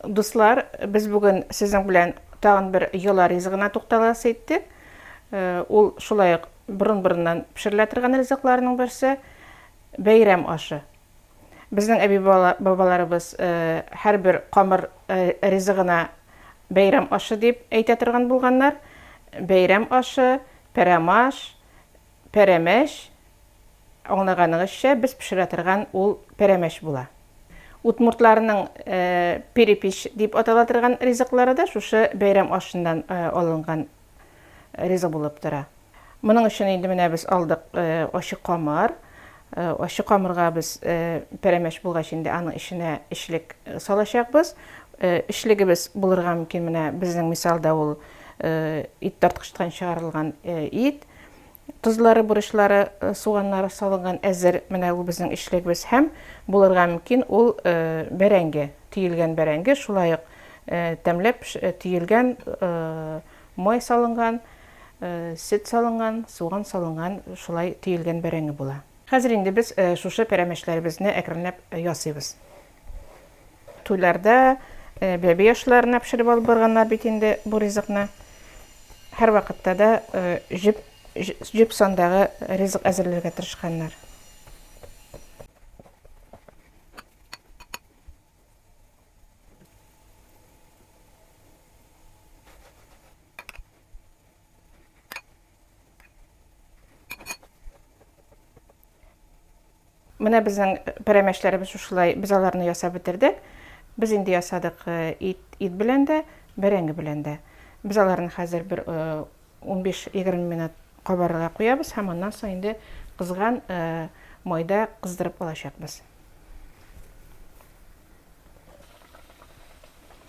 Дуслар, без бүген сезнең белән тагын бер йола ризыгына тукталасы иттек. Э, ул шулай ук борын-борыннан пешерелә торган ризыкларның берсе бәйрәм ашы. Безнең әби бабаларыбыз э, һәрбер камыр э, ризыгына бәйрәм ашы дип әйтә торган булганнар. Бәйрәм ашы, пәрәмаш, Пәрәмәч, аңлаганыгызча, без пешерә торган ул пәрәмәч була. Удмуртларның перепич дип атала торган ризыклары да шушы бәйрәм ашыннан алынган ризык булып тора. Моның өчен инде менә без алдык ачы камыр. Ачы камырга без пәрәмәч булгач инде аның эченә эчлек салачакбыз. Эчлегебез булырга мөмкин менә безнең мисалда ул ит тарткычтан чыгарылган ит. Тозлары, бурычлары, э, суганнары салынган әзер менә ул безнең эчлегебез һәм булырга мөмкин ул э, бәрәңге, төелгән бәрәңге, шулай ук э, тәмләп төелгән май салынган, сөт салынган, суган салынган, шулай төелгән бәрәңге була. Хәзер инде без шушы пәрәмәчләребезне әкренләп ясыйбыз. Туйларда бәби ашларына пешереп алып барганнар бит инде бу ризыкны. Һәрвакытта да җеп җеп сандагы ризык әзерләргә тырышканнар. Менә безнең пәрәмәчләребез шушылай, без аларны ясап бетердек. Без инде ясадык э, ит, ит белән дә, бәрәңге белән дә. Без аларны хәзер бер 15-20 э, минут кабарырга куябыз һәм аннан соң инде кызган э, майда кыздырып алачакбыз.